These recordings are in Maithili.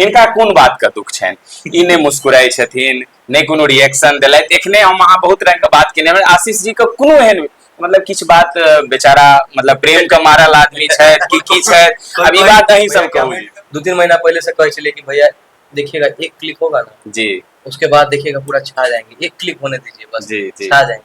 हिनका कोन बात के दुख छनि ई नहि मुस्कुराइ छथिन नहि कोनो रिएक्शन देलथि एखने हम अहाँ बहुत रंग के बात केने आशीष जी के कोनो एहन मतलब किछु बात बेचारा मतलब प्रेम के मारल आदमी छथि कि की छथि अब ई बात अहीं सब कहू दू तीन महीना पहले से कहै छलियै कि भैया देखिएगा एक क्लिक होगा ना जी उसके बाद देखिएगा पूरा छा जाएंगे एक क्लिक होने दीजिए बस जी, जी. छा जाएंगे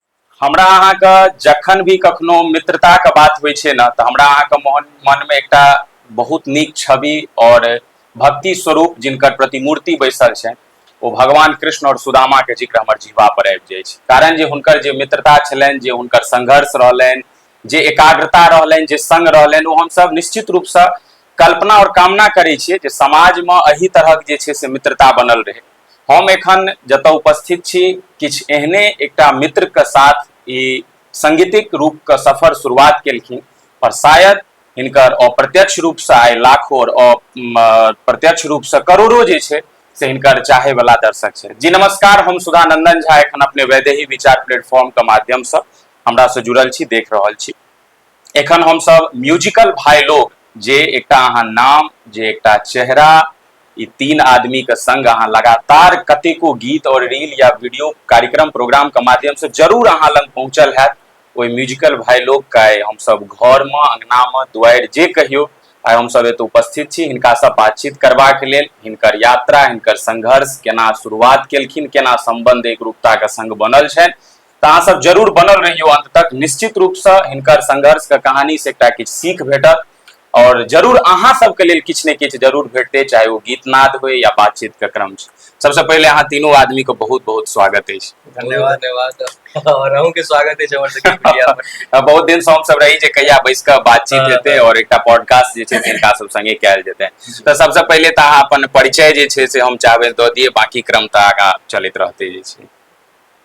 हमरा अहाँके जखन भी कखनो मित्रताके बात होइ छै ने तऽ हमरा अहाँके मोहन मनमे एकटा बहुत नीक छवि आओर भक्ति स्वरूप जिनकर प्रतिमूर्ति बैसल छै ओ भगवान कृष्ण आओर सुदामाके जिक्र हमर जीवा पर आबि जाइ छै कारण जे हुनकर जे मित्रता छलनि जे हुनकर संघर्ष रहलनि जे एकाग्रता रहलनि जे संग रहलनि ओ हमसभ निश्चित रूपसँ कल्पना आओर कामना करै छियै जे समाजमे एहि तरहक जे छै से मित्रता बनल रहै हम एखन जतय उपस्थित छी किछु एहने एकटा मित्रके साथ ई संगीतिक रूपके सफर शुरुआत केलखिन पर शायद हिनकर अप्रत्यक्ष रूपसँ आइ लाखो आओर प्रत्यक्ष रूपसँ करोड़ो जे छै से हिनकर चाहे वाला दर्शक छै जी नमस्कार हम सुधानंदन झा एखन अपने वैदेही विचार प्लेटफॉर्म के माध्यम से हमरा से जुड़ल छी देख रहल छी एखन हमसभ म्यूजिकल भाय लोग जे एकटा अहाँ नाम जे एकटा चेहरा ई तीन आदमी के संग अहाँ लगातार कतेको गीत और रील या वीडियो कार्यक्रम प्रोग्राम के माध्यम से जरूर अहाँ लग पहुंचल हैत ओहि म्यूजिकल भाय लोग के आइ हमसभ घर में अंगना में दुआरि जे कहियो आइ हमसभ एतऽ उपस्थित छी हिनका से बातचीत करबाक लेल हिनकर यात्रा हिनकर संघर्ष केना शुरुआत केलखिन केना संबंध एकरूपता के संग बनल छनि तऽ अहाँ सब जरूर बनल रहियो अंत तक निश्चित रूप से हिनकर संघर्ष के कहानी से एकटा किछु सीख भेटत और जरूर अहाँ सबके लेल किछु ने किछु जरूर भेटते चाहे वो गीत नाद हो या बातचीत के क्रम सबसे पहले अहाँ तीनों आदमी को बहुत बहुत स्वागत है धन्यवाद धन्यवाद और अहूँ के स्वागत है हमर सबके मीडिया पर बहुत दिन से हम सब रही जे कहिया बैस के बातचीत हाँ, हेते हाँ। और एकटा पॉडकास्ट जे छै से इनका सब संगे कैल जेते तो सबसे पहले त अहाँ अपन परिचय जे छै से हम चाहबे द दिए बाकी क्रम त आगा चलत रहते जे छै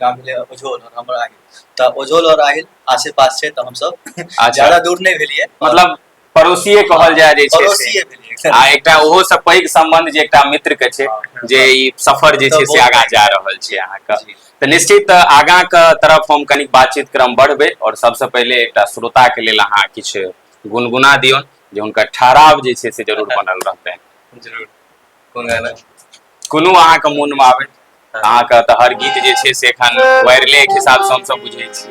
का मिले ओझोल और हमर आहिल तऽ ओझोल और आहिल आसे पास छै तऽ हम सब अच्छा। ज्यादा दूर नहि भेलियै मतलब पड़ोसिए कहल जाय जे छै से। पड़ोसिए भेलियै आ एकटा ओहो से पैघ संबंध जे एकटा मित्र के छै जे ई सफर जे छै से आगाँ जा रहल छै अहाँके जी। तऽ निश्चित आगाँ के तरफ हम कनिक बातचीत क्रम बढ़बै और सबसे पहिले एकटा श्रोता के लेल अहाँ किछु गुनगुना दियौन जे हुनकर ठहराव जे छै से जरूर बनल रहतनि जरूर कोन गाना कोनो अहाँके मोनमे आबै अहाँके तऽ हर गीत जे छै से एखन वायरले के हिसाब से हमसब बुझै छी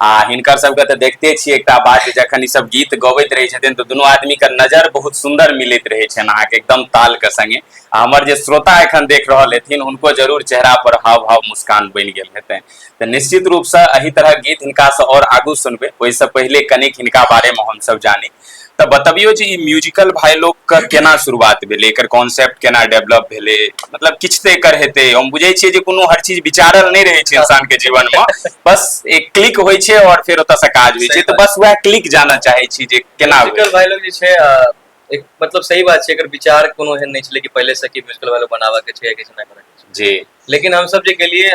आ हिनकर सबके तऽ देखते छियै एकटा बात जे जखन ईसभ गीत गबैत रहै छथिन तऽ दुनू आदमीके नजर बहुत सुन्दर मिलैत रहै छनि अहाँके एकदम तालके संगे आ हमर जे श्रोता एखन देख रहल हेथिन हुनको जरूर चेहरा पर हाव भाव मुस्कान बनि गेल हेतनि तऽ निश्चित रूपसँ एहि तरह गीत हिनकासँ आओर आगू सुनबै ओहिसँ पहिले कनिक हिनका बारेमे हमसभ जानी तऽ बतबियौ जे ई म्यूजिकल भाई लोग के केना शुरुआत भेलै एकर कॉन्सेप्ट केना डेवलप भेलै मतलब किछु तऽ एकर हेतै हम बुझै छियै जे कोनो हर चीज विचारल नहि रहै छै इंसान के जीवन मे बस एक क्लिक होइ छै और फेर ओतऽ से काज होइ छै तऽ बस वएह क्लिक जाना चाहै छी जे केना म्यूजिकल भाई लोग जे छै एक मतलब सही बात छै एकर विचार कोनो एहन नहि छलै कि पहिले से कि म्यूजिकल भाई लोग बनाबऽ के छै या किछु नहि करऽ के छै जी लेकिन हम सब जे गेलियै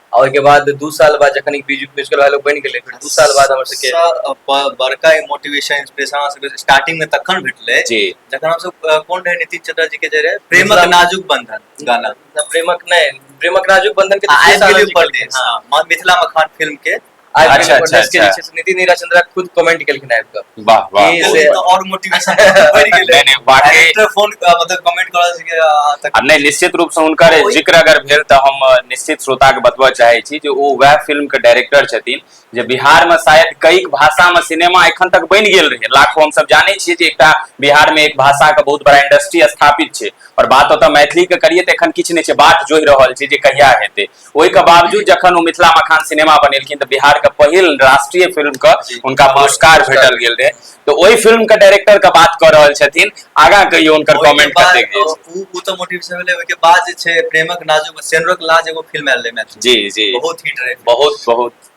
और के बाद दू साल बाद जखन ई बीज बेचकर वाला लोग बन गेले फिर दू साल बाद हमर सबके सा- ब- बड़का मोटिवेशन इंस्पिरेशन हमरा सबके स्टार्टिंग में तखन भेटले जी जखन हम सब अ, कोन रहे नीतीश चंद्र जी के जे रहे प्रेमक मिथिला- नाजुक बंधन गाना ना प्रेमक नहीं प्रेमक नाजुक बंधन के आ आबि दूसरे साल गेली हम परदेश निकललियै। हाँ, म- मिथिला मखान फिल्म के आबि अच्छा, गेल अच्छा, podcast के जे अच्छा। छै से निधि नीरा चंद्रा खुद कमेंट केलखिन आबि कऽ वाह वाह ई से- और मोटिवेशन बढ़ि गेलै नहीं, नहीं, वाकई- डायरेक्टर फोन मतलब कमेंट करऽ से कि, आ, तक आ नहि निश्चित रूप से हुनकर ओहि- जिक्र अगर भेल तऽ हम अ, निश्चित श्रोता के बतबऽ चाहे छी जे ओ वएह फिल्म के डायरेक्टर छथिन जे बिहार में शायद कई भाषा में सिनेमा एखन तक बनि गेल रहे लाखों हम सब जाने छियै जे एकटा बिहार में एक भाषा के बहुत बड़ा इंडस्ट्री स्थापित छै और बात ओतऽ मैथिली के करिए तऽ एखन किछु नहि छै बात जोहि रहल छै जे कहिया हेतै ओहिके बावजूद जखन ओ मिथिला मखान सिनेमा बनेलखिन तऽ बिहारके पहिल राष्ट्रीय फिल्मके हुनका पुरस्कार भेटल गेल रहै तऽ ओहि फिल्मके डायरेक्टरके बात कऽ रहल छथिन आगाँ कहियो हुनकर कमेंट कऽ देख जाइ छी ओ तऽ मोटिव से भेलै ओहिके बाद जे छै प्रेमक नाजुक सेनरक लाज एगो फिल्म आयल रहै मैथिली जी जी बहुत हिट रहै बहुत बहुत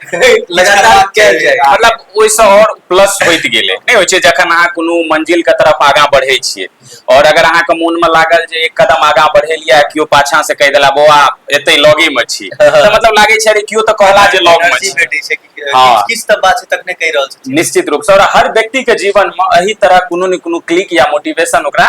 लगातार कयल जाय मतलब ओहिसँ आओर प्लस होइत गेलै नहि होइ छै जखन अहाँ कोनो मंजिलके तरफ आगाँ बढ़ै छियै आओर अगर अहाँके मोनमे लागल जे एक कदम आगाँ बढ़ेलियै आ केओ पाछासँ कहि देला बौआ एतै लगेमे छी तऽ मतलब लागै छै अरे केओ तऽ कहला जे लगमे छी भेटै छै कि हँ। किछु तऽ बात छै तखने कहि रहल छथिन निश्चित रूपसँ आओर हर व्यक्तिके जीवनमे एहि तरह कोनो ने कोनो क्लिक या मोटिवेशन ओकरा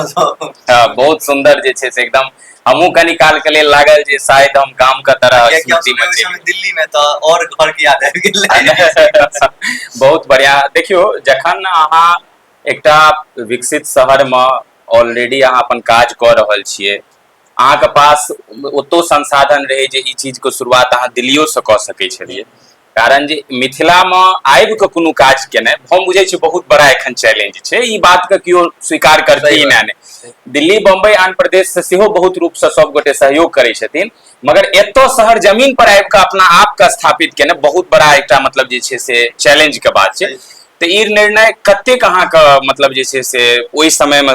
हाँ, बहुत सुंदर जे छै से एकदम हमहूँ कनी काल के लेल लागल जे शायद हम गाम के तरह स्मृति में छी दिल्ली में तो और घर के याद आबि गेल बहुत बढ़िया देखियो जखन अहाँ एकटा विकसित शहर में ऑलरेडी अहाँ अपन काज कऽ रहल छियै अहाँके पास ओतो संसाधन रहै जे ई चीजके शुरुआत अहाँ दिल्लियोसँ कऽ सकै छलियै कारण जे मिथिलामे आबि कऽ कोनो काज केनाइ हम बुझै छी बहुत बड़ा एखन चैलेंज छै ई बातके केओ स्वीकार करतै ने नहि दिल्ली बम्बई आन प्रदेशसँ सेहो बहुत रूपसँ सभगोटे सहयोग करै छथिन मगर एतय शहर जमीन पर आबि कऽ अपना आपके स्थापित केनाइ बहुत बड़ा एकटा मतलब जे छै से चैलेंजके बात छै तऽ ई निर्णय कतेक अहाँके मतलब जे छै से ओहि समयमे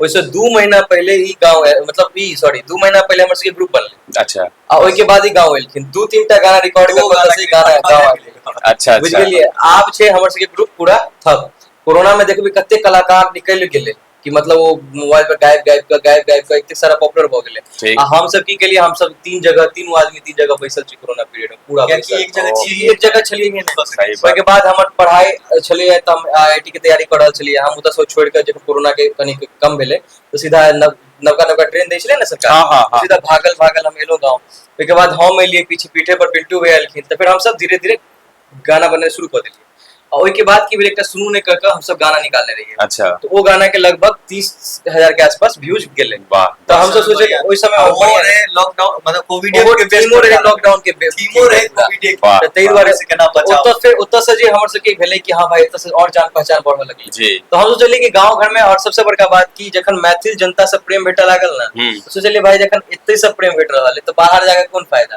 ओहिसँ दू महीना पहिले ई गाँव आयल- मतलब ई सॉरी दू महीना पहिले हमर सबके ग्रुप बनलै अच्छा आ ओहिके बाद ई गाँव एलखिन दू तीन टा गाना रिकॉर्ड दू गाना करके गाना गाँव आबि गेलै। अच्छा बुझि अच्छा गेलियै आब छै हमर सबके ग्रुप पूरा थक कोरोना में देखबै कते कलाकार निकलि गेलै कि मतलब ओ मोबाइल पर गायब गायब के गायब गायब के एते सारा पॉपुलर भऽ गेलै ठीक। आ हम सब की केलियै हम सब तीन जगह तीन आदमी तीन जगह बैसल छी कोरोना पीरियड में पूरा कियाकि एक जगह ओ। छी एक जगह छलियै हे ने बस सही बात। ओहिके बाद हमर पढ़ाइ छलियै तऽ हम आई आई टी के तैयारी कऽ रहल छलियै हम ओतऽ छोड़ कऽ जखन कोरोना के कनि कम भेलै तऽ सीधा नव नवका नवका ट्रेन दै छलै ने सरकार हँ हँ हँ सीधा भागल भागल हम एलौं गाँव ओहिके बाद हम एलियै पीछ पीठे पर पिन्टू भैया एलखिन तऽ फेर हमसब धीरे धीरे गाना बजनाइ शुरू कऽ देलियै और ओहि के बाद की भेल एकटा सुनू ने कह के हम सब गाना निकालने रहिए अच्छा तो वो गाना के लगभग तीस हजार के आसपास व्यूज गेले वाह तो हम सब सोचे कि ओहि समय और वो बढ़िया रहे लॉकडाउन मतलब कोविड ओहो के बेस्ट थीमो रहे लॉकडाउन के बे- थीमो रहे पूरा। कोविड के वाह, त ताहि वाह। दुआरे से केना बचाव ओतऽ से ओतऽ से जे हमर सबके भेलै कि हाँ भाई एतऽ से और जान पहचान बढ़ऽ लगलै जी तो हम सोचलिए कि गांव घर में और सबसे बड़का बात की जखन मैथिल जनता से प्रेम भेटऽ लागल ना हम्म। तो सोचलिए भाई जखन एते से प्रेम भेट रहल है तो बाहर जाके कोन फायदा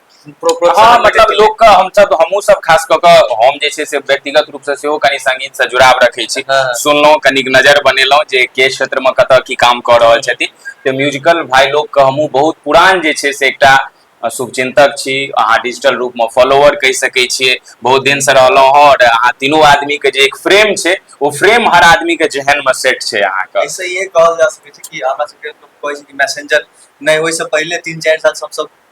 हँ मतलब लोकके हमसब हमहूँ सब खास कऽ कऽ हम जे छै से व्यक्तिगत रूपसँ सेहो कनि सङ्गीतसँ जुड़ाव रखै छी हँ। सुनलहुँ कनिक नजर बनेलहुँ जे के क्षेत्रमे कतय की काम कऽ रहल छथिन तऽ म्यूजिकल भाय लोकके हमहूँ बहुत पुरान जे छै से एकटा शुभचिन्तक छी अहाँ डिजिटल रूपमे फॉलोवर कहि सकै छियै बहुत दिन से रहलहु हँ और अहाँ तीनू आदमी के जे एक फ्रेम छै ओ फ्रेम हर आदमी के जेहन मे सेट छै अहाँ के ऐसे इहे कहल जा सकै छै कि हमरा सबके कहै छै कि मैसेंजर नहि ओहिसँ पहिले तीन चारि साल सबसँ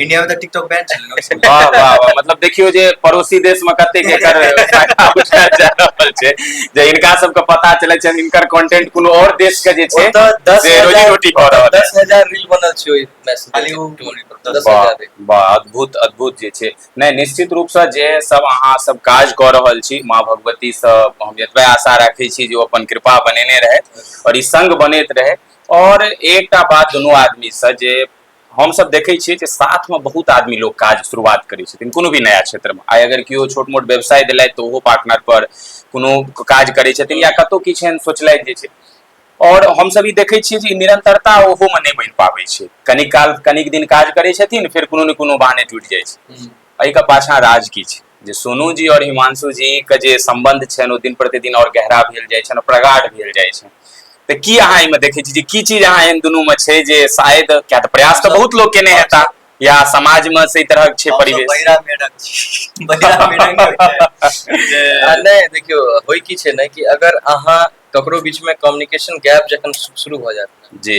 इंडिया में तो टिकटॉक बैन चल रहा है वाह वाह वाह मतलब देखियो जे पड़ोसी देश में कते के कर फायदा उठा जा रहल छै जे इनका सब के पता चले छै इनकर कंटेंट कोनो और देश के जे छै वो तो दस जे रोजी हजार- रोटी खा रहल छै दस हजार रील बनल छै ओहि मैसेज खाली ओ दस वाह, हजार रील। वाह, अद्भुत अद्भुत जे छै नहि निश्चित रूपसँ जे सब अहाँ सब काज कऽ रहल छी माँ भगवतीसँ हम एतबे आशा राखै छी जे ओ अपन कृपा बनेने रहथि आओर ई संग बनैत रहै आओर एकटा बात दुनू आदमीसँ जे हमसभ देखै छियै जे साथमे बहुत आदमी लोक काज शुरुआत करै छथिन कोनो भी नया क्षेत्रमे आइ अगर केओ छोट मोट व्यवसाय देलथि तऽ ओहो पार्टनर पर कोनो काज करै छथिन या कतहु किछु एहन सोचलथि जे छै आओर हमसभ ई देखै छियै जे निरंतरता ओहोमे नहि बनि पाबै छै कनिक काल कनिक दिन काज करै छथिन फेर कोनो ने कोनो बहाने टूटि जाइ छै एहिके पाछाँ राज की छै जे सोनू जी आओर हिमांशु जी के जे संबंध छनि ओ दिन प्रतिदिन आओर गहरा भेल जाइ छनि प्रगाढ़ भेल जाइ छनि तऽ की अहाँ एहिमे देखै छी जे की चीज अहाँ एहन दुनू मे छै जे शायद क्या तऽ प्रयास तऽ बहुत लोग केने हेता या समाज मे से तरह छै परिवेश बहिरा मेढक छी बहिरा मेढक नहि देखियो होय की छै ने कि अगर अहाँ ककरो बीच में कम्युनिकेशन गैप जखन शुरू भऽ जायत जी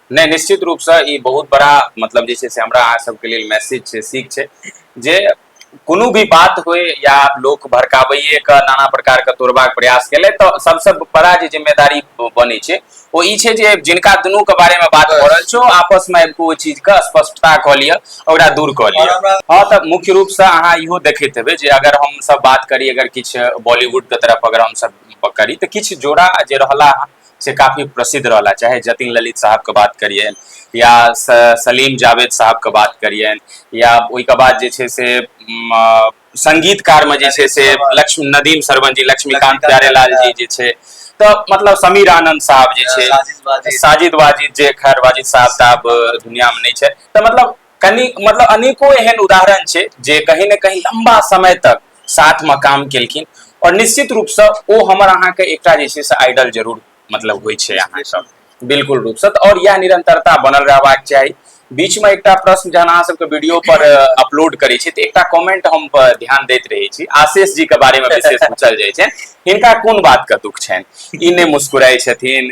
नहि निश्चित रूपसँ ई बहुत बड़ा मतलब जे छै से हमरा अहाँ सबके लेल मैसेज छै सीख छै जे कोनो भी बात होय या लोक भड़काबैए के नाना प्रकार के तोड़बाक प्रयास केले तऽ सबसँ बड़ा जे जिम्मेदारी बनै छै ओ ई छै जे जिनका दुनू के बारे मे बात भऽ रहल छौ आपस मे आबि कऽ ओ चीज के स्पष्टता कऽ लिअ ओकरा दूर कऽ लिअ हँ तऽ मुख्य रूप से अहाँ इहो देखैत हेबै जे अगर हम सब बात करी अगर किछु बॉलीवुड के तरफ अगर हम सब करी तऽ किछु जोड़ा जे रहला से काफ़ी प्रसिद्ध रहला चाहे जतिन ललित साहब के बात करिए या सलीम जावेद साहब के बात करिए या ओहि के बाद जे छै से संगीतकार में जे छै से लक्ष्मी नदीम सरवन जी लक्ष्मीकांत प्यारेलाल जी जे छै तऽ मतलब समीर आनंद साहब जे छै साजिद वाजिद जे खैर वाजिद साहब तऽ आब दुनिया में नहि छै तऽ मतलब कनि मतलब अनेको एहन उदाहरण छै जे कहीं ने कहीं लंबा समय तक साथ में काम केलखिन और निश्चित रूप से ओ हमर अहाँ के एकटा जे छै से आइडल जरूर मतलब होइ छै अहाँ सब बिल्कुल रूप से और यह निरंतरता बनल रहबाक चाहिए बीच में एकटा प्रश्न जहन अहाँ सबके वीडियो पर अपलोड करै छी तऽ एकटा कमेंट हम ध्यान दैत रहै छी आशीष जी के बारे में विशेष पूछल जाइ छै हिनका कोन बात के दुख छनि ई नहि मुस्कुराइ छथिन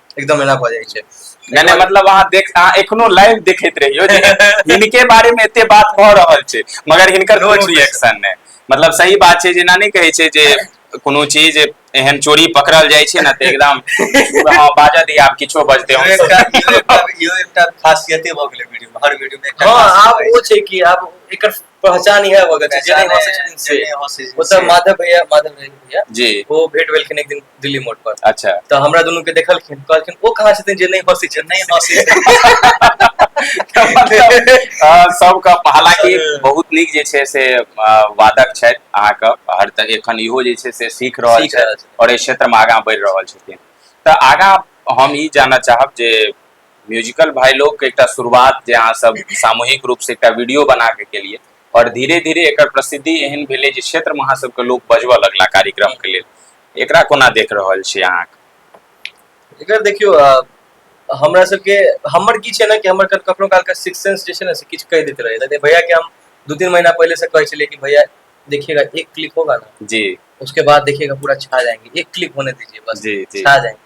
एकदम एना भऽ जाइ छै नहि नहि मतलब अहाँ देख अहाँ एखनो लाइव देखैत रहियो जे हिनके बारे में एते बात भऽ रहल छै मगर हिनकर No कोनो expression. रिएक्शन नहि मतलब सही बात छै जेना नहि कहै छै जे कोनो चीज एहन चोरी पकड़ल जाइ छै ने तऽ एकदम हँ बाजऽ दिया आब किछो बजते इहो हम एकटा इहो एकटा इहो एकटा खासियते भऽ गेलै वीडियो हर वीडियो में एकटा हँ खासियत आब रहै ओ छै कि आब एकर पहचान यह होगा जे जे हंसे छथिन से ओतऽ माधव भैया माधव भैया जी वो भेट भेलखिन एक दिन दिल्ली मोड़ पर अच्छा तो हमरा दोनों के देखलखिन कहलखिन ओ कहाँ छथिन जे नहीं हंसे छथिन नहीं हंसे सबके हालांकि बहुत निक जे छै से वादक छथि अहाँके हर तऽ एखन इहो जे छै से सीख रहल छथि और एहि क्षेत्रमे आगाँ बढ़ि रहल छथिन तऽ आगाँ हम ई जानऽ चाहब जे म्यूजिकल भाई लोग के एकटा शुरुआत जे अहाँ सब सामूहिक रूप से एकटा वीडियो बना के केलिए और धीरे धीरे एक प्रसिद्धि एहन भेले जे क्षेत्र में अहाँ सबके लोग बजबऽ लगला कार्यक्रम के लिए एक कोना देख रहा छी अहाँ एक देखियो हमरा सबके हमर की छै ना कि हमर कखनो काल के सिक्स सेंस जे छै ना से किछ कह देते रहे थे भैया के हम दो तीन महीना पहले से कहे छलिए कि भैया देखिएगा एक क्लिक होगा ना जी उसके बाद देखिएगा पूरा छा जाएंगे एक क्लिक होने दीजिए बस जी, जी। छा जाएंगे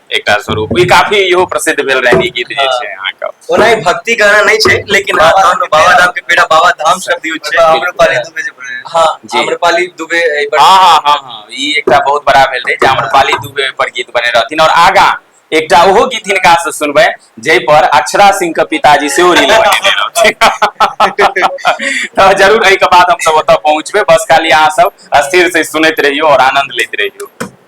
एकटा स्वरूप ई काफी इहो प्रसिद्ध भेल रहनि गीत जे छै अहाँके ओना ई भक्ति गाना नहि छै लेकिन बाबा धाम बाबा धाम के पेड़ा बाबा धाम शब्द यूज छै आम्रपाली दुबे जे बोले हां आम्रपाली दुबे एहि पर हां हां हां हां ई एकटा बहुत बड़ा भेल रहै जे आम्रपाली दुबे पर गीत बने रहथिन और आगा एकटा ओहो गीत हिनका से सुनबै जै पर अक्षरा सिंह के पिताजी से ओ रील बनेने रहथिन तो जरूर एहि के बाद हम सब ओतऽ पहुंचबे बस खाली अहाँ सब स्थिर से सुनैत रहियो और आनंद लेते रहियो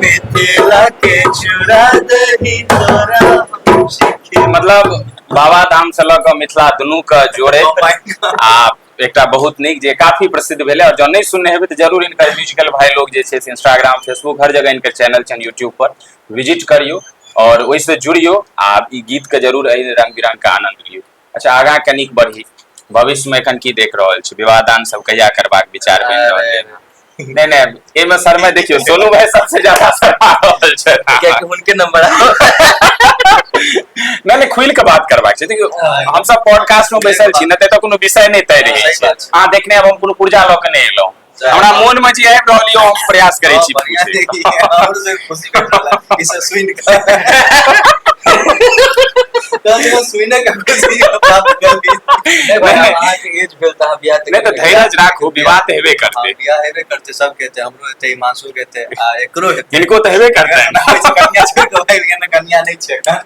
मिथिला के चुरा दही तोरा हम सीखे मतलब बाबा धाम से लऽ कऽ मिथिला दुनू के जोड़े Oh my God. आ एकटा बहुत नीक जे काफी प्रसिद्ध भेलै और जँ नहि सुनने हेबै तऽ जरूर इनकर म्यूजिकल भाई लोग जे छै से इंस्टाग्राम फेसबुक हर जगह इनकर चैनल छनि यूट्यूब पर विजिट करियौ और ओहिसँ जुड़ियौ आ ई गीत के जरूर एहि रंग बिरंग के आनंद लियौ अच्छा आगाँ कनिक बढ़ी भविष्यमे एखन की देख रहल छी विवाह दान सब कहिया करबाक विचार बनि रहल है नहि नहि एहिमे शर्मा देखियौ सोनू भाई सबसे ज्यादा शर्मा रहल छै हुनके नंबर नहि नहि खुलि कऽ बात करबाक छै देखियौ हमसब पॉडकास्ट मे बैसल छी ने तऽ कोनो विषय नहि तय रहै छै अहाँ देखने हम कोनो पुर्जा लऽ के नहि एलहुँ हमरा मोन में जे आबि रहल यऽ हम प्रयास करै छी हिनको तऽ हेबे करतै कन्या नहि छै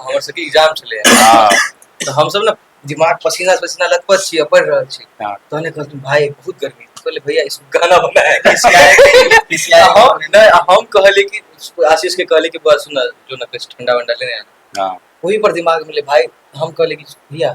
हमर सबके एग्जाम छलै हँ तऽ हमसब ने दिमाग पसीना पसीना लतपथ छी आ पढ़ि रहल छी हँ तहने कहलखिन भाय बहुत गर्मी हम कहलियै भैया ई सब गाना बना है आ हम नहि आ हम कहलियै कि आशीष के कहलियै कि बस सुन जो ना किछु ठंडा वंडा लेने आ हँ ओहि पर दिमाग मे एलै भाय हम कहलियै कि भैया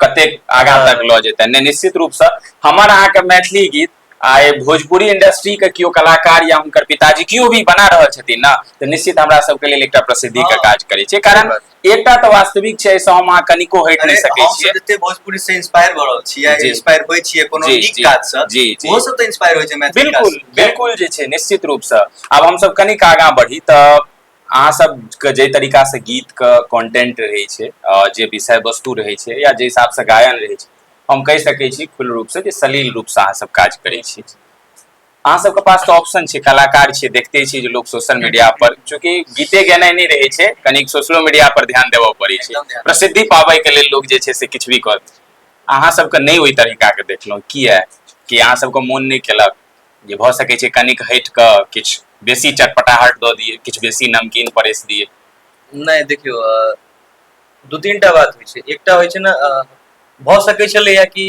कतेक आगा हाँ। तक लऽ जेतै नहि निश्चित रूपसँ हमर अहाँके मैथिली गीत आ भोजपुरी इंडस्ट्री के केओ कलाकार या हुनकर पिताजी केओ भी बना रहल छथिन ने तऽ निश्चित हमरा सबके लेल एकटा प्रसिद्धि के हाँ। काज करै छै कारण एकटा तऽ वास्तविक छै एहिसँ हम अहाँ कनिको हटि नहि सकै छियै जते भोजपुरी से इंस्पायर भऽ रहल छी या इंस्पायर होइ छियै कोनो नीक काज से जी जी ओहो सब तऽ इंस्पायर होइ छै मैथिली बिल्कुल बिल्कुल जे छै निश्चित रूपसँ आब हमसब कनिक आगाँ बढ़ी तऽ अहाँ सबके जाहि तरीकासँ गीतके कॉन्टेंट रहै छै जे विषय वस्तु रहै छै या जाहि हिसाबसँ गायन रहै छै हम कहि सकै छी खुल्ल रूपसँ जे सलील रूपसँ अहाँ सब काज करै छी अहाँ सबके पास तऽ ऑप्शन छै कलाकार छियै देखते छियै जे लोक सोशल मीडिया पर चूँकि गीते गेनाइ नहि रहै छै कनिक सोशलो मीडिया पर ध्यान देबऽ पड़ै छै एकदम ध्यान। प्रसिद्धि पाबैके लेल लोक जे छै से किछु भी करत अहाँ सबके नहि ओहि तरीकाके देखलहुँ किए कि अहाँ सबके मोन नहि केलक जे भऽ सकै छै कनिक हटि कऽ किछु बेसी चटपटाहट दऽ दियै किछु बेसी नमकीन परेस दियै नहि देखियौ अ, दू तीन टा बात होइ छै एकटा होइ छै ने अ, भऽ सकै छलैया कि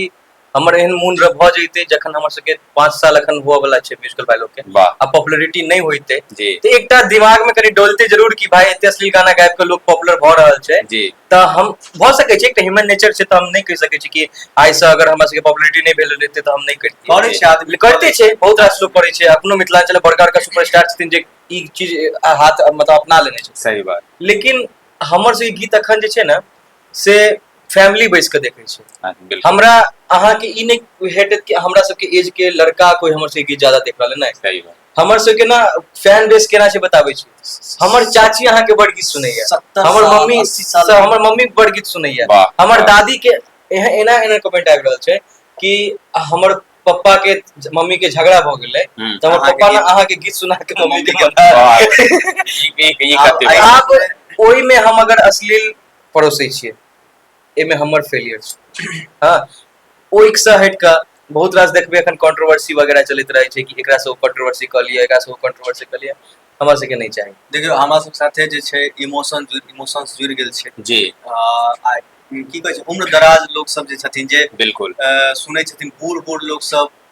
हमर एहन मोन रह भऽ जैते जखन हमर सबके पाँच साल अखन हुअ वाला छै म्यूजिकल बाय लोग के वाह आ पॉपुलरिटी नहि होइते जी तऽ एकटा दिमाग में कनि डोलते जरूर कि भाई एते अश्लील गाना गाबि के लोग पॉपुलर भऽ रहल छै जी तऽ हम भऽ सकै छै एकटा ह्यूमन नेचर छै तऽ हम नहि कहि सकै छी कि आइसँ अगर हमरा सबके पॉपुलरिटी नहि भेल रहतै तऽ हम नहि करितियै करै छै आदमी करते छै बहुत रास लोक करै छै अपनो मिथिलाञ्चल बड़का बड़का सुपरस्टार छथिन जे ई चीज आ हाथ मतलब अपना लेने छथिन सही बात लेकिन हमर सबके गीत अखन जे छै ने से फैमिली बैस कऽ देखै छै हाँ, बिल्कुल हमरा अहाँके ई नहि हेटत कि हमरा सबके एज के लड़का कोई हमर सबके गीत ज्यादा देख रहल है नहि सही बात हमर सबके ना फैन बेस केना छै बताबै छी हमर चाची अहाँ के बड़ गीत सुनैया सत्तर हमर साल, मम्मी अस्सी साल। स- हमर मम्मी बड़ गीत सुनैया वाह, हमर वाह। दादी के एह- एना एना कमेंट आबि रहल छै कि हमर पप्पा के मम्मी के झगड़ा भ गेलै हम्म। तऽ हमर अहाँके पप्पा ने गीत- अहाँ के गीत सुना के मम्मी के गला वाह, ई- ई- ई कते आब- बात। आब ओहिमे हम अगर अश्लील परोसै छियै एहिमे हमर फेलियर छै हँ ओहिसँ हटि कऽ बहुत रास देखबै एखन कॉन्ट्रोवर्सी वगैरह चलैत रहै छै कि एकरासँ ओ कॉन्ट्रोवर्सी कऽ लिअ एकरासँ ओ कॉन्ट्रोवर्सी कऽ लिअ हमरा सबके नहि चाही देखियौ हमरा सब साथे जे छै इमोशन इमोशंस जुड़ि गेल छै जी आ आ की कहै छै उम्र दराज लोक सब जे छथिन जे बिल्कुल अ, सुनै छथिन बूढ़ बूढ़ लोक सब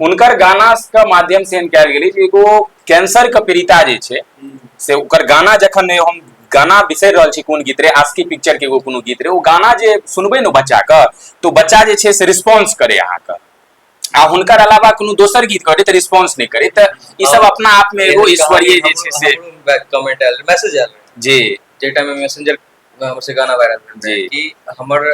हुनकर गाना के माध्यम से हम कयल गेली जे एगो कैंसर के पीड़िता जे छै से ओकर गाना जखन ने हम गाना बिसरि रहल छी कोन गीत रे आस्की पिक्चर के एगो कोनो गीत रे ओ गाना जे सुनबै ने बच्चा के तो बच्चा जे छै से रिस्पॉन्स करे अहाँके आ हुनकर अलावा कोनो दोसर गीत करे तऽ रिस्पॉन्स नहि करे तऽ ई सब अपना आप में एगो ईश्वरीय जे छै से कमेंट आयल मैसेज आयल जी जे टाइम में मैसेंजर हमर से गाना वायरल भेल रहै जी। कि हमर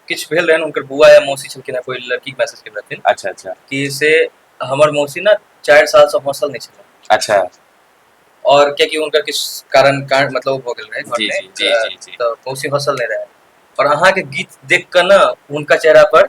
किछु भेल रहै हुनकर बुआ या मौसी छलखिन हँ कोइ लड़की मैसेज केने रहथिन अच्छा अच्छा कि से हमर मौसी ने चारि सालसँ हौसल नहि छलै अच्छा और कियाकि हुनकर किछु कारण कारण मतलब ओ भऽ गेल रहै जी, घरमे जी, जी, तऽ जी, जी। तऽ मौसी हौसल नहि रहै और अहाँके गीत देख कऽ ने हुनका चेहरा पर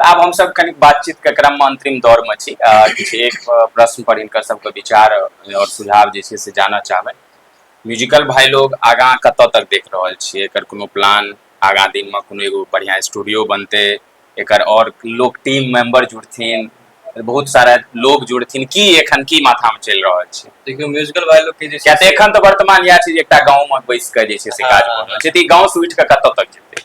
तऽ आब हमसभ कनि बातचीतके क्रममे अंतरिम दौरमे छी आ किछु एक प्रश्न पर हिनकर सबके विचार और सुझाव जे छै से जानऽ चाहबै म्यूजिकल भाई लोग आगाँ कतऽ तक देख रहल छियै एकर कोनो प्लान आगाँ दिनमे कोनो एगो बढ़िआँ स्टूडियो बनतै एकर और लोग टीम मेंबर जुड़थिन बहुत सारा लोग जुड़थिन की एखन की माथामे चलि रहल छै देखियौ म्यूजिकल भाई लोग के जे किया छै तऽ से- एखन तऽ वर्तमान इएह छै जे एकटा गाँवमे बैस कऽ जे छै से काज भऽ रहल छै तऽ ई गाँवसँ उठि कऽ कतऽ तक जेतै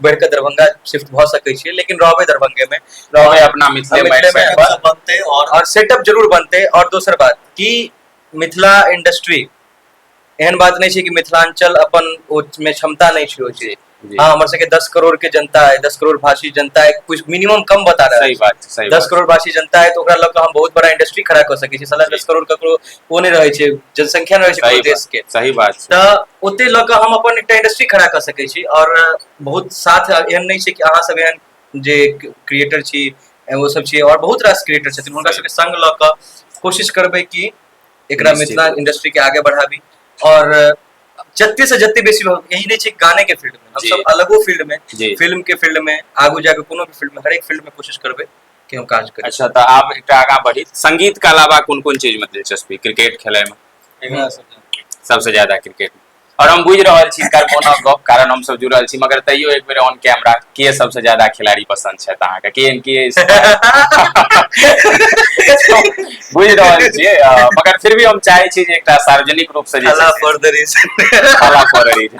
बढ़ि कऽ दरभंगा शिफ्ट भऽ सकै छियै लेकिन रहबै दरभंगे में रहबै अपना मिथिले में मिथिले में सेटअप सब बनतै और और सेटअप जरूर बनतै और दोसर बात कि मिथिला इंडस्ट्री एहन बात नहि छै कि मिथिलांचल अपन ओ में क्षमता नहि छै ओ जी चीज जी हँ हमर सबके दस करोड़ के जनता है दस करोड़ भाषी जनता है कुछ मिनिमम कम बता रहल सही छै बात छै सही दस बात करोड़ भाषी जनता है तो ओकरा लऽ कऽ हम बहुत बड़ा इंडस्ट्री खड़ा कऽ सकै छी साला जी दस करोड़ ककरो ओ नहि रहै छै जनसंख्या नहि रहै छै सही कोनो बात। देश के सही बात छै तऽ ओते लऽ कऽ हम अपन एकटा इंडस्ट्री खड़ा कऽ सकै छी आओर बहुत साथ एहन नहि छै कि अहाँ सब एहन जे क्रिएटर छी ओ सब छी आओर बहुत रास क्रिएटर छथिन हुनका सही सबके संग लऽ कऽ कोशिश करबै कि एकरा निश्चित मिथिला रूप से इंडस्ट्री के आगे बढ़ाबी आओर जते से जते बेसी लोग यही नहि छै गाने के फील्ड मे जी हमसब अलगो फील्ड मे जी फिल्म के फील्ड मे आगू जाके कोनो भी फील्ड मे हरेक फील्ड मे कोशिश करबै केओ काज करै अच्छा तऽ आब एकटा आगाँ बढ़ी संगीतके अलावा कोन कोन चीजमे दिलचस्पी क्रिकेट खेलाइमे सबसँ ज्यादा क्रिकेट और हम बुझि रहल छी हिनकर फोनक गप कारण हम सब जुड़ल छी मगर तैयो एक बेर ऑन कैमरा के सबसँ ज्यादा खिलाड़ी पसंद छथि अहाँके के एम के बुझि रहल छियै मगर फिर भी हम चाहै छी जे एकटा सार्वजनिक रूपसँ जे for the reason for the reason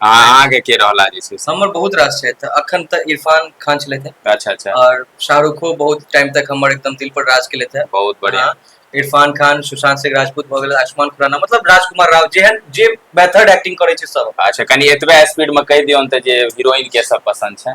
आ अहाँके के रहला जे छै से हमर बहुत रास छथि अखन तऽ इरफान खान छलथि हैं अच्छा अच्छा और शाहरुखो बहुत टाइम तक हमर एकदम दिल पर राज केलथि हैं बहुत बढ़िया हाँ, इरफान खान सुशांत सिंह राजपूत भऽ गेल आयुष्मान खुराना मतलब राजकुमार राव जेहन जे मेथड एक्टिंग करै छै सब अच्छा कनि एतबे स्पीड में कहि दियौन तऽ जे हीरोइन के सब पसंद छै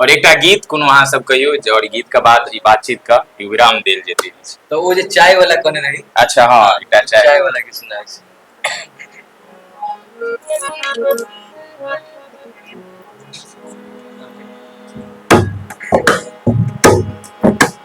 और एकटा गीत कोनो अहाँ सब कहियो जे और गीत के बाद ई बातचीत का विराम देल जेतै तऽ ओ जे चाय वाला कहने रही अच्छा हाँ एकटा चाय चाय वाला के सुनाइ छी Thank you.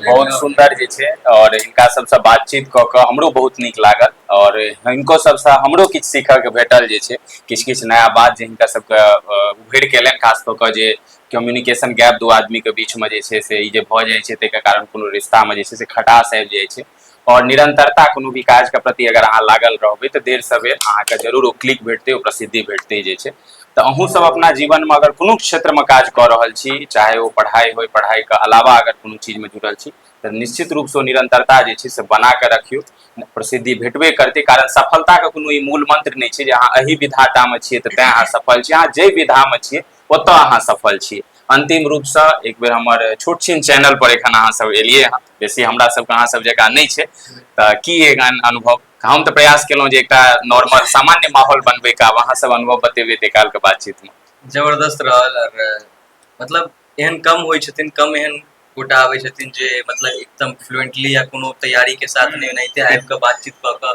बहुत सुन्दर जे छै आओर हिनका सबसँ बातचीत कऽ कऽ हमरो बहुत नीक लागल आओर हिनको सबसँ हमरो किछु सीखऽके भेटल जे छै किछु किछु नया बात जे हिनका सबके उभरि कऽ अयलनि खास कऽ कऽ जे कम्युनिकेशन गैप दू आदमीके बीचमे जे छै से ई जे भऽ जाइ छै तैके कारण कोनो रिश्तामे जे छै से खटास आबि जाइ छै आओर निरंतरता कोनो भी काजके प्रति अगर अहाँ लागल रहबै तऽ देर सवेर अहाँके जरूर ओ क्लिक भेटतै ओ प्रसिद्धि भेटतै जे छै तऽ अहूँ सब अपना जीवनमे अगर कोनो क्षेत्रमे काज कऽ रहल छी चाहे ओ पढ़ाइ होय पढ़ाइके अलावा अगर कोनो चीजमे जुटल छी तऽ निश्चित रूपसँ निरंतरता जे छै से बना कऽ रखियौ प्रसिद्धि भेटबे करतै कारण सफलताके कोनो ई मूल मंत्र नहि छै जे अहाँ एहि विधातामे छियै तऽ तैँ अहाँ सफल छी अहाँ जाहि विधामे छियै ओतय अहाँ सफल छी अन्तिम रूपसँ एक बेर हमर छोट छिन चैनल पर एखन अहाँ सब एलियै हँ बेसी हमरा सबके अहाँ सब जकाँ नहि छै तऽ की एहन अनुभव हम तऽ प्रयास केलहुँ जे एकटा नॉर्मल सामान्य माहौल बनबैके आब अहाँ सब अनुभव बतेबै ताहि कालके बातचीतमे जबरदस्त रहल आओर मतलब एहन कम होइ छथिन कम एहन गोटा आबै छथिन जे मतलब एकदम फ्लुएंटली या कोनो तैयारीके साथ नहि ओनाहिते आबि कऽ बातचीत कऽ कऽ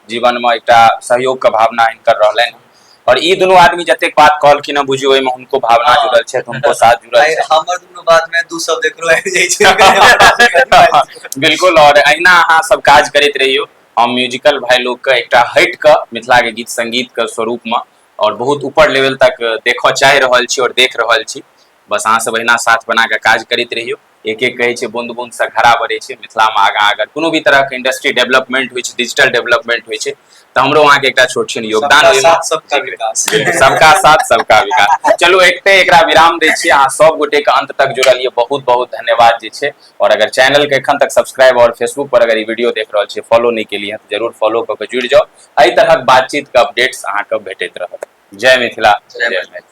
जीवनमे एकटा सहयोगके भावना हिनकर रहलनि और ई दुनू आदमी जतेक बात कहलखिन हँ बुझियो ओहिमे हुनको भावना हाँ। जुड़ल छथि हुनको साथ जुड़ल आइ छथि हमर दुनू बात में दू शब्द एकरो आबि जाइ छै बिल्कुल और अहिना अहाँ सब काज करैत रहियौ हम म्यूजिकल भाई लोग के एकटा हट के मिथिला के गीत संगीत के स्वरूप में और बहुत ऊपर लेवल तक देखऽ चाहि रहल छी और देख रहल छी बस अहाँ सब अहिना साथ बना कऽ काज करैत रहियौ एक एक कहै छै बूंद बूंद से घड़ा बढ़ै छै मिथिलामे आगाँ अगर कोनो भी तरहके इंडस्ट्री डेवलपमेंट होइ छै डिजिटल डेवलपमेंट होइ छै तऽ हमरो अहाँके एकटा छोट छिन योगदान ओहिमे सबका साथ सबका विकास चलू एकटे एकरा विराम दै छी अहाँ सब गोटे के अंत तक जुड़ल ये बहुत बहुत धन्यवाद जे छै और अगर चैनल के एखन तक सब्सक्राइब और फेसबुक पर अगर ई वीडियो देख रहल छी फॉलो नहि केलिए तऽ जरूर फॉलो कऽ के जुड़ि जाउ एहि तरहक बातचीत के अपडेट्स अहाँके भेटैत रहत जय मिथिला जय मैथिली